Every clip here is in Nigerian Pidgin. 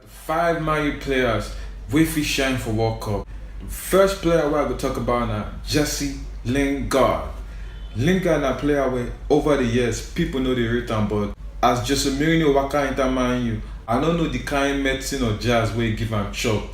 Five Man U players wey fit shine for World Cup. First player wey I go talk about na Jesse Lingard. Lingard na player wey over the years people no dey rate am but as Jose Mourinho waka enter Man U, I no know the kind medicine or jazz wey e give am chop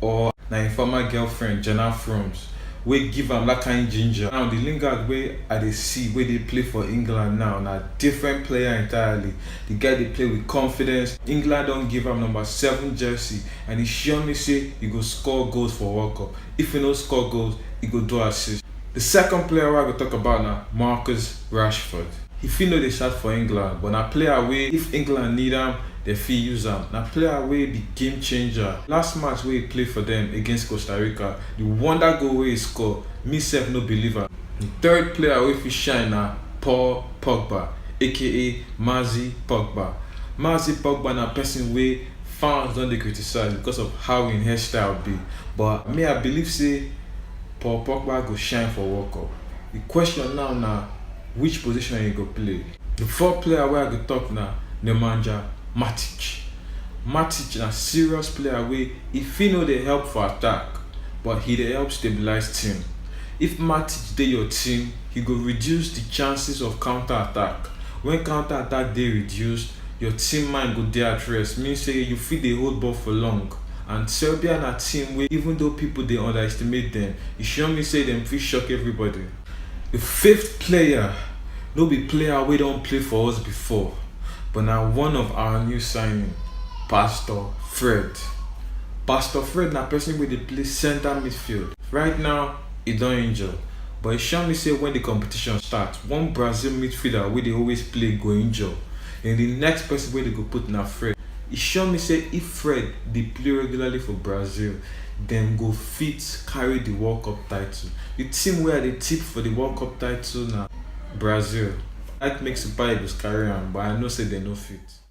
or na im former girlfriend Jenna Frooms wey give am that kind ginger. Now the Lingard wey I dey see wey dey play for England now na different player entirely. Di guy dey play with confidence, England don give am number seven jersey and e sure me say e go score goals for World Cup, if e no score goals, e go do assist. Di second player wey I go talk about na Marcus Rashford. He fit no dey start for England but na player wey if England need am, dem fit use am. Na player wey be game changer, last match wey e play for dem against Costa Rica, di wonder goal wey e score, me sef no believe am. Di third player wey fit shine na Paul Pogba aka Maxi Pogba Maxi Pogba na person wey fans don dey criticize because of how im hairstyle be but me I believe say Paul Pogba go shine for World Cup. The question now na which position he go play. The fourth player wey I go talk na Nemanja Matic. Matic na serious player wey e fit no dey help for attack but he dey help stabilize team. If Matic dey your team, e go reduce di chances of counter attack, wen counter attack dey reduced, your team mind go dey at rest, mean say you fit dey hold ball for long and Serbia na team wey even though pipo dey underestimate dem, e sure me say dem fit shock everybody. Di fifth player no be player wey don play for us before but na one of our new signing, Pastor Fred. Pastor Fred na pesin wey dey play centre midfield right now. e don injure but e sure me say wen di competition start, one Brazil midfielder wey dey always play go injure den di next pesin wey dem go put na Fred. E sure me say if Fred dey play regularly for Brazil, dem go fit carry di World Cup title. Di team wey I dey tip for di World Cup title na Brazil. I like make Super Eagles carry am but I know say dem no fit.